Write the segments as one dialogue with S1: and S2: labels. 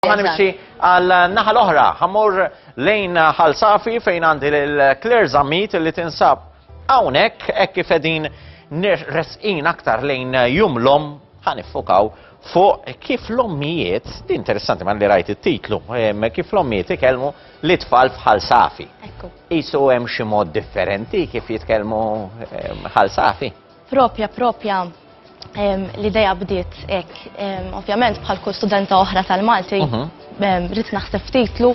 S1: Ħa nimxi għal naħa l-oħra, ħamur lejn ħal safi fejn għandi l-Claire Zammit li tinsab għawnek, ekk kif edin resqin aktar lejn jum l-om ħanifukaw fuq kif l-ommijiet, di interessanti man li rajt il-titlu, kif l-ommijiet ikelmu li tfal fħal safi. Ekku. Isu hemm xi mod differenti kif jitkellmu ħal safi. Propja, propja,
S2: l-ideja bdiet ek, ovvjament bħal kull studenta oħra tal-Malti, rrit naħseb titlu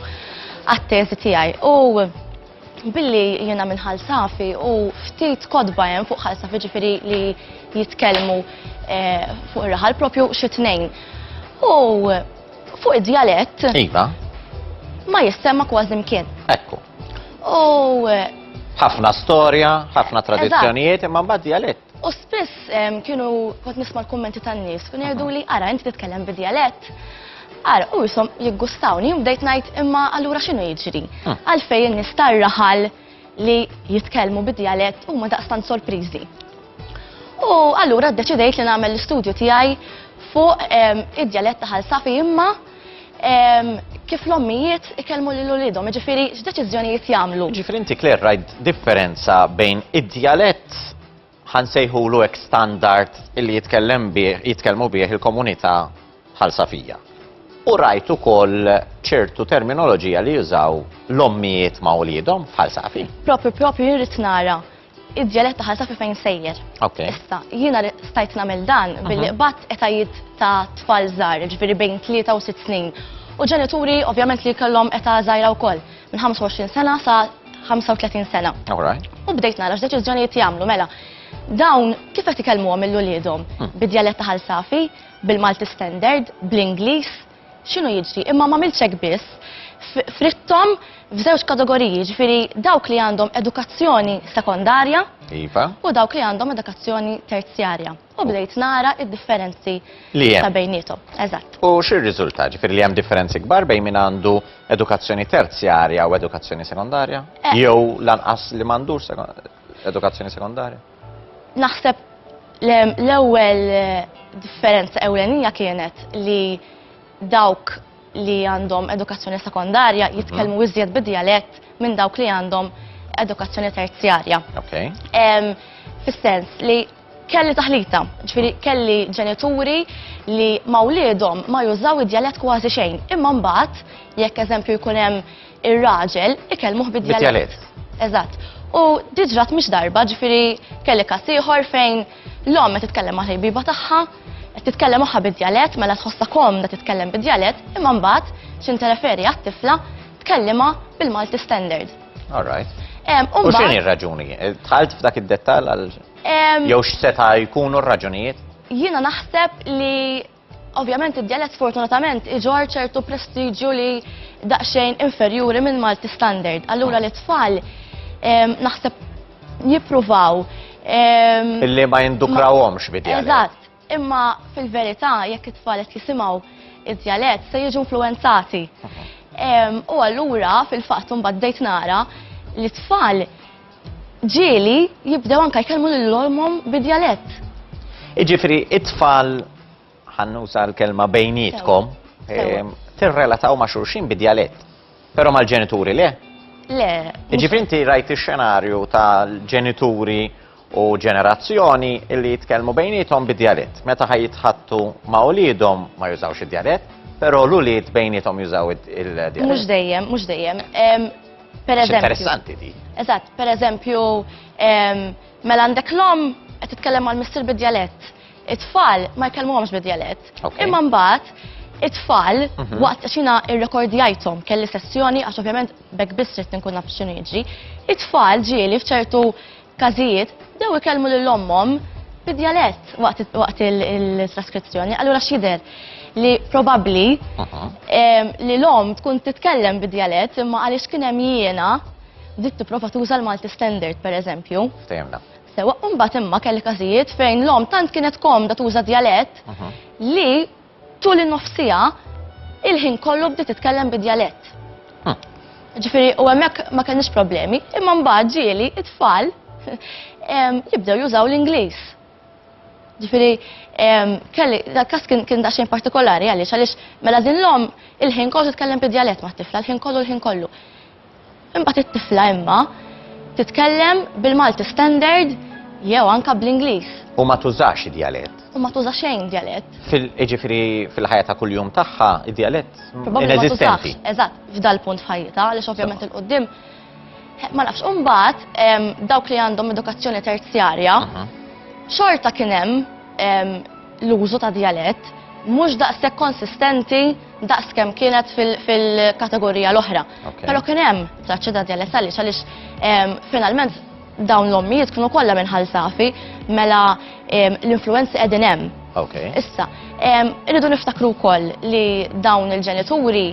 S2: għat-teżi tiegħi. U billi jiena minn ħalsafi u ftit kodba hemm fuq ħalsafi ġifiri li jitkellmu eh, fuq ir-raħal propju xi tnejn. U fuq id-djalett iva.
S1: ma
S2: jissemma kważi mkien. Ekku.
S1: U
S2: ħafna
S1: storja, ħafna tradizzjonijiet, imma mbagħad dialett. U spiss
S2: kienu kont nisma' l-kummenti tan-nies, kienu jgħidu li ara inti titkellem bi dialett. Ara, u jisom jiggustawni, bdejt ngħid imma allura x'inhu jiġri? Hm. Għalfejn in-nies tar-raħal li jitkellmu bi dialett huma daqstant sorpriżi. U allura ddeċidejt li nagħmel l-istudju tiegħi fuq id-dialett ta' ħalsafi imma kif l-ommijiet ikellmu lil ulidhom, ġifiri x'deċiżjonijiet jagħmlu. Ġifiri inti Claire rajt
S1: differenza bejn id-djalett ħansejħulu ek standard illi jitkellem bih, jitkellmu bih il-komunità ħalsafija. U rajt ukoll ċertu terminoloġija li jużaw l-ommijiet ma' uliedhom f'ħalsafi. Propri, propri jirrit
S2: nara id-djalett ta' ħalta fi fejn sejjer. Issa, jiena stajt nagħmel dan billi qbad etajiet ta' tfal żgħar, ġifieri bejn 3 u 6 snin. U ġenituri ovvjament li kellhom età żgħira wkoll, minn 25 sena sa 35 sena. U bdejt nara x'deċiżjonijiet jagħmlu mela. Dawn kif qed ikellmuhom il-uliedhom? Bid-djalett ta' ħal safi, bil-Malti standard, bl-Ingliż, x'inhu jiġri, imma m'għamiltx hekk biss, fritthom f'żewġ kategoriji, jiġifieri dawk li għandhom edukazzjoni sekondarja iva. u dawk li għandhom edukazzjoni terzjarja. U bdejt nara id-differenzi ta' bejnietom. Eżatt. U xi rriżulta?
S1: Ġifieri li hemm differenzi kbar bejn min għandu edukazzjoni terzjarja u edukazzjoni sekondarja? Eh. Jew lanqas li m'għandux sekondarja? Edukazzjoni sekondarja? Naħseb
S2: l-ewwel eh, differenza ewlenija kienet li dawk li għandhom edukazzjoni sekondarja mhm. jitkellmu mm. iżjed bid-dialett minn dawk li għandhom edukazzjoni terzjarja. Okay. Um, Fis-sens li kelli taħlita, ġifiri mhm. kelli ġenituri li ma' ma jużaw id-dialett kważi xejn. Imma mbagħad jekk eżempju jkun hemm ir-raġel ikellmuh bid-djalett. Eżatt. U diġrat mhix darba, ġifieri kelli każ ieħor fejn l-omm qed titkellem ma' ħejbiba tagħha, qed titkellem magħha bid-djalett mela tħossha komda titkellem bid-djalett, imma mbagħad x'intereferi għat-tifla tkellimha bil-Malti standard. All right.
S1: U x'inhi r-raġuni? Tħalt f'dak id-dettall għal jew x'seta' jkunu r-raġunijiet? Jiena naħseb
S2: li Ovvjament id-djalett sfortunatament iġorr ċertu prestiġju li daqsxejn inferjuri minn Malti standard. Allura li tfal naħseb jippruvaw
S1: Illi ma jindukrawhomx bid-djalett. Eżatt, imma
S2: fil-verità jekk it-tfal qed jisimgħu id-djalett se jiġu influenzati. U allura fil-fatt imbagħad bdejt nara li tfal ġieli jibdew anke jkellmu lil ommhom bi djalett. Jiġifieri
S1: it-tfal ħannuża l-kelma bejnietkom ehm, tirrelataw ma' xulxin bi djalett, però mal-ġenituri le? Le.
S2: Jiġifieri inti
S1: rajt ix-xenarju tal-ġenituri u ġenerazzjoni li jitkellmu bejnietom bi djalett. Meta ħaj jitħattu ma' uliedhom ma jużawx id-djalett, però l-ulied bejnietom jużaw il-djalett. Mhux dejjem, mhux
S2: dejjem. Ehm, Per eżempju.
S1: Interessanti di. Eżatt, per eżempju,
S2: mela għandek l-om qed titkellem għal missier bid-djalett. It-tfal ma jkellmuhomx bid-djalett. Imma mbagħad it-tfal mhm. waqt xina irrekordjajthom kelli sessjoni għax ovvjament bekk biss trid nkun naf x'inhu jiġri. It-tfal ġieli f'ċertu każijiet, bdew ikellmu lil ommhom bid-djalett waqt il-traskrizzjoni. Allura x'jidher li probabbli li l-omm tkun titkellem bid-djalett imma għaliex kien hemm jiena bdiet tipprova tuża l-Malti Standard pereżempju. Ftehimna. Sewwa,
S1: u mbagħad
S2: imma kelli każijiet fejn l-omm tant kienet komda tuża djalett li Tul in-nofs siegħa, il-ħin kollu bdiet titkellem bi djalett. Ġifieri u hemmhekk ma kellniex problemi, imma mbagħad ġieli it-tfal jibdew jużaw l-Ingliż. Ġifieri kelli dak-każ kien daqsxejn partikolari għaliex għaliex mela din l-omm il-ħin kollu titkellem bi djalett mat-tifla, l-ħin kollu l-ħin kollu. Imbagħad it-tifla imma titkellem bil-Malti standard jew anke bl-Ingliż. U ma tużax
S1: id-djalett. U ma tuża xejn
S2: djalett. Jiġifieri
S1: fil-ħajja ta' kuljum tagħha id-djalett ineżistenti.
S2: Eżatt, f'dal punt f'ħajjitha għaliex ovvjament il-qudiem ma nafx. U mbagħad dawk li għandhom edukazzjoni terzjarja xorta kien hemm l-użu ta' djalett mhux daqshekk konsistenti daqs kemm kienet fil-kategorija l-oħra. Però kien hemm traċċi ta' djalett għaliex għaliex ehm, finalment dawn l-ommijiet kienu kollha minn ħalsafi mela ehm, l-influenzi qegħdin hemm. Issa, ehm, irridu niftakru wkoll li dawn il-ġenituri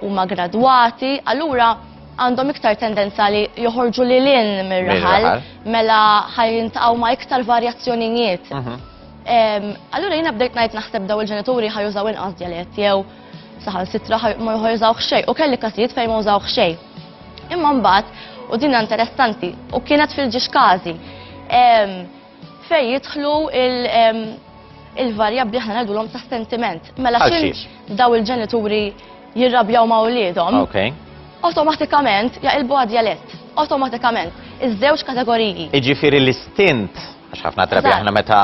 S2: huma gradwati, allura għandhom iktar tendenza li joħorġu li l-in mir-raħal mela ħajjintaqgħu ma' iktar varjazzjonijiet. Mhm. Allura jiena bdejt ngħid naħseb daw il-ġenituri ħajużaw inqas djalett jew saħan sitra ma jużaw xejn u kelli każijiet fejn ma użaw xejn. Imma mbagħad u din interessanti u kienet fil-ġiex każi fejn jidħlu il-varjabbli aħna ngħidulhom ta' sentiment. Mela xiex daw il-ġenituri jirrabjaw ma' uliedhom. Awtomatikament jaqilbu għad djalett. Awtomatikament iż-żewġ kategoriji. Iġifieri l-istint
S1: Għax ħafna drabi aħna meta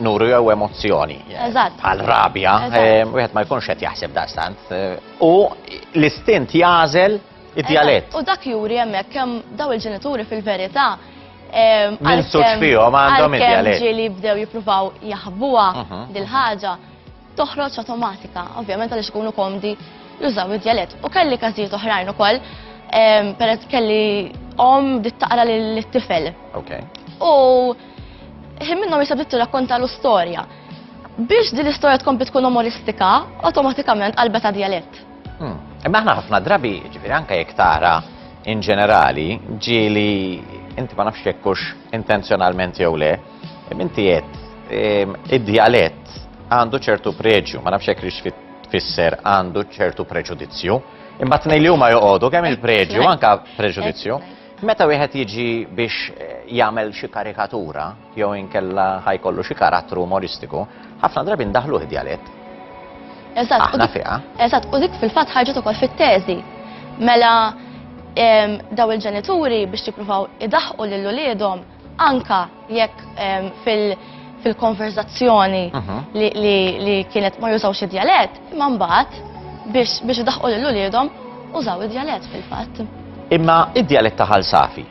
S1: nuru jew emozzjoni. Eżatt. Għal rabja, eh, wieħed ma jkunx qed jaħseb daqstant. Eh, u l-istint jażel id-dialett. U dak juri hemmhekk
S2: kemm daw il-ġenituri fil-verità eh,
S1: Minn suċ fihom għandhom id-dialett. Ġieli bdew jippruvaw
S2: jaħbuha mhm. dil-ħaġa. toħroġ awtomatika, ovvjament għaliex ikunu komdi jużaw id-djalett. U kelli każijiet oħrajn ukoll, em, peress kelli om bdiet taqra lill-tifel. Okay. U ħin minnhom jisab bdiet tirrakkontalu storja. Biex din l-istorja tkompli tkun umoristika, awtomatikament qalbet djalett. Hmm. Imma aħna
S1: ħafna drabi, ġifiri anka jekk tara in ġenerali, ġieli inti ma nafx jekkux intenzjonalment jew le, Minti għed, ehm, id-dialett għandu ċertu preġju, ma nafx hekk rix fisser għandu ċertu preġudizzju, imma t-nej li huma joqogħdu kemm il-preġju, anka preġudizzju. Meta wieħed jiġi biex eh, jagħmel xi karikatura jew inkella ħajkollu xi karattru umoristiku, ħafna drabi ndaħlu id-dialett. Eżatt, aħna fiha. Eżatt, u dik fil-fatt
S2: ħarġet ukoll fit-teżi. Mela daw il-ġenituri biex jippruvaw idaħqu lil uliedhom Anka jekk fil-konverzazzjoni li kienet ma jużawx id-djalett, imma mbagħad biex idaħqu lil uliedhom użaw id-djalett fil-fatt. Imma
S1: id-djalett ta' Ħal Safi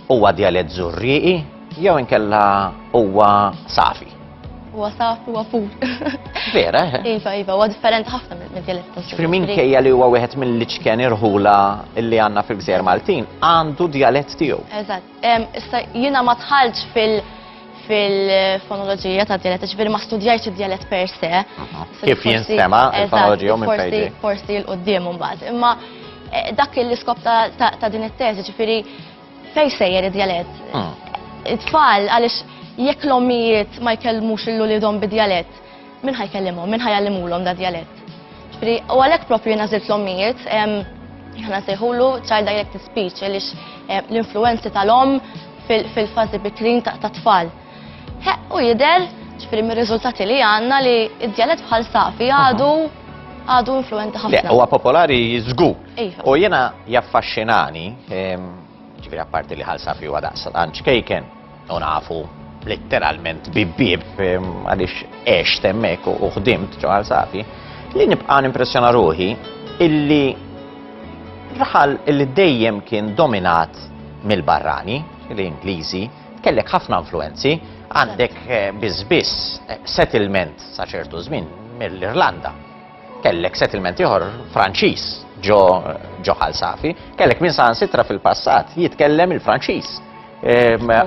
S1: huwa djalett Żurrieqi jew inkella huwa Safi? Huwa
S2: Safi, huwa pur. Vera?
S1: Iva, iva, huwa
S2: differenti ħafna mid-djalett ta' Żurrieqi. Min kejja li huwa
S1: wieħed mill-iċken irħula li għandna fil-Gżejjer Maltin għandu djalett tiegħu. Eżatt. Issa
S2: jiena ma tħallġ fil- fil-fonoloġija ta' dialett, ġifiri ma studjajx id-dialett per se. Kif jinstema
S1: il-fonoloġija minn fejdi? Forsi l-qoddim un
S2: bat. Imma eh, dak l-iskop ta' din it-teżi, ġifiri fej sejjer id-dialett. Hmm. It-tfal, għalix jekk l-ommijiet ma jkellmux il-lulidom bid-dialett, Min ħa jkellimhom, min ħa jgħallimulhom da djalett? Ġifieri, u għalhekk proprju jiena żilt l-ommijiet, aħna nsejħulu child directed speech għaliex l-influenzi tal-omm fil-fażi bikrin tat-tfal. U jidher, ġifieri mir-riżultati li għandna li d-djalett bħal safi għadu għadu influenti ħafna. Huwa popolari
S1: żgur. Iva. U jiena jaffaxxinani, ġifieri apparti li ħal safi huwa daqs kejken U nafu letteralment bib-bib għaliex għex temmek u ħdimt ġo safi li nibqa' nimpressjona ruħi illi raħal illi dejjem kien dominat mill-barrani, l-Ingliżi, kellek ħafna influenzi, għandek eh, bizbis eh, settlement sa ċertu żmien mill-Irlanda. Kellek settlement ieħor Franċiż ġo ġo Safi, kellek minn saħansitra fil-passat jitkellem il-Franċiż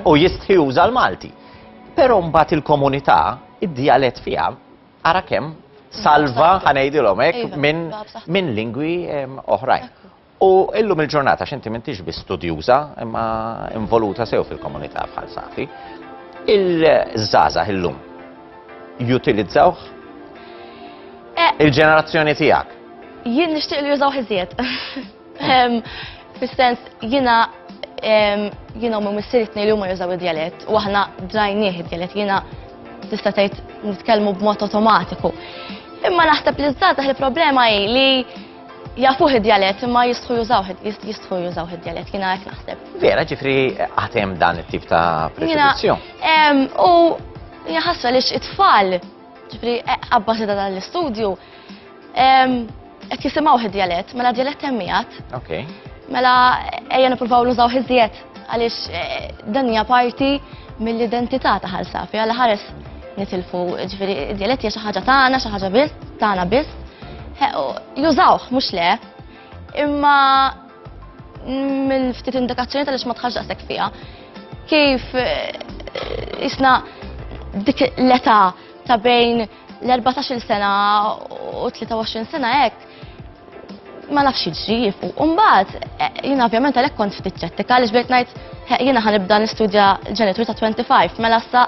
S1: u jistħi juża l-Malti. Però mbagħad il-komunità, id-dialett fiha, ara kemm salva ħanejdilhom hekk minn lingwi oħrajn. U illum il-ġurnata x'inti m'intix bi studjuża imma involuta sew fil-komunità bħal saħti. Il-żgħażagħ illum jutilizzawh eh. il-ġenerazzjoni tiegħek. Jien nixtieq li
S2: jużaw ħiżjed. Fis-sens jiena jiena u missieri tnej li huma jużaw id-djalett u aħna drajnieh id-djalett jiena tista' tgħid nitkellmu b'mod automatiku. Imma naħseb li żgħażagħ il-problema hi li jafuh id-djalett imma jistħu jużaw jistħu jużaw id-djalett jiena hekk naħseb. Vera ġifri
S1: għatem dan it-tip ta' preġudizzju.
S2: U jaħasra li it-tfal Ġifri, e, abbażi ta' dan l-istudju, qed jisimgħu id-djalett, mela djalett hemm miegħed. Ok.
S1: Mela
S2: ejja nippruvaw nużaw iżjed għaliex e, dan hija parti mill-identità ta' ħal safi għal ħares nitilfu ġifieri id-djalett hija xi ħaġa tagħna, xi ħaġa biss, tagħna biss. Jużawh mhux le, Imma mill-ftit indikazzjoni tal-ix ma tħax daqshekk fiha. Kif eh, isna dik l-età ta' bejn l-14 sena u 23 sena hekk ma nafx jiġri jifu. Umbat, eh, jina ovvjament għalek kont ftit ċettika, għalix bdejt najt, jina ħanibda nistudja ġenitur ta' 25, mela sa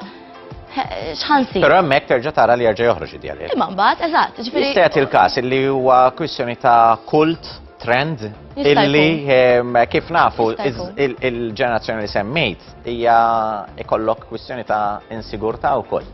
S2: xħansi. Pero hemmhekk terġa'
S1: tara li jerġa' joħroġ id-djalil. Imma mbagħad, eżatt,
S2: ġifieri. Se jagħti l-każ illi
S1: huwa kwistjoni ta' kult trend illi ehm, kif nafu il-ġenerazzjoni li semmejt hija ikollok kwistjoni ta' insigurtà wkoll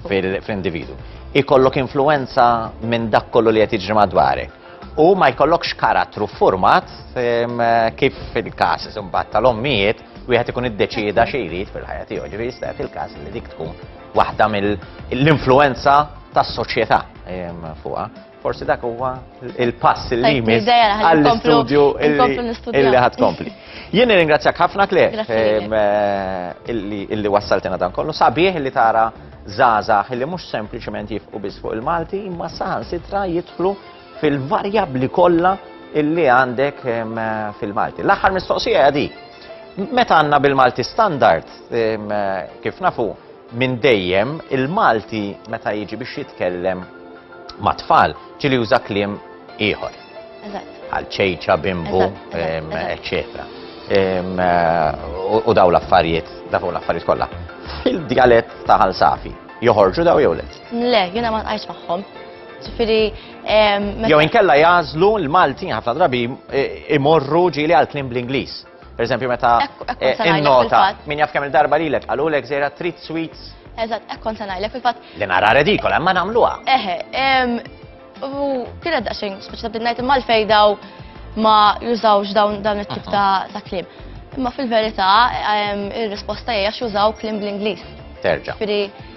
S1: fil-individu. Ikollok influenza minn dak kollu li qed jiġri madwarek. U ma jkollokx karattru format ehm, kif fil-każ imbagħad tal-ommijiet wieħed ikun iddeċieda xi jrid fil-ħajja tiegħu, ġifieri jista' jagħti l-każ li dik tkun waħda mill-influenza tas-soċjetà ehm, fuqha. Forsi dak huwa il-pass li jmiss għall-istudju illi ħad kompli. Jien ringrazzjak ħafna kle ehm, eh, illi wassaltina dan kollu sabiħ li tara żgħażagħ illi mhux sempliċement jifqu biss fuq il-Malti imma saħansitra jidħlu fil-varjabbli kollha illi għandek fil-Malti. L-aħħar mistoqsija di, meta għandna bil-Malti standard, kif nafu, minn dejjem il-Malti meta jiġi biex jitkellem ma' tfal ġili juża kliem ieħor. Għal ċejċa, bimbu, eccetera. U daw l-affarijiet, daw l-affarijiet kollha. Fil-dialett ta' ħalsafi, joħorġu daw jew le? Le, jiena ma nqajx
S2: magħhom. Ġifiri.
S1: Jew inkella jażlu l-Malti ħafna drabi imorru ġili għal klim bl-Ingliż. Per eżempju, meta eh, in-nota, min jaf kemm il-darba li lek, għalu lek zera trit sweets. Eżat, ekkon ta'
S2: najlek fil-fat. Li nara redikola,
S1: ma namluha. Eħe,
S2: u kienet daqxin, speċi ta' bidnajt imma l-fej daw ma jużawx dawn dan it-tip ta' klim. Imma fil-verità, il-risposta hija jużaw klim bl-Ingliż. Terġa'.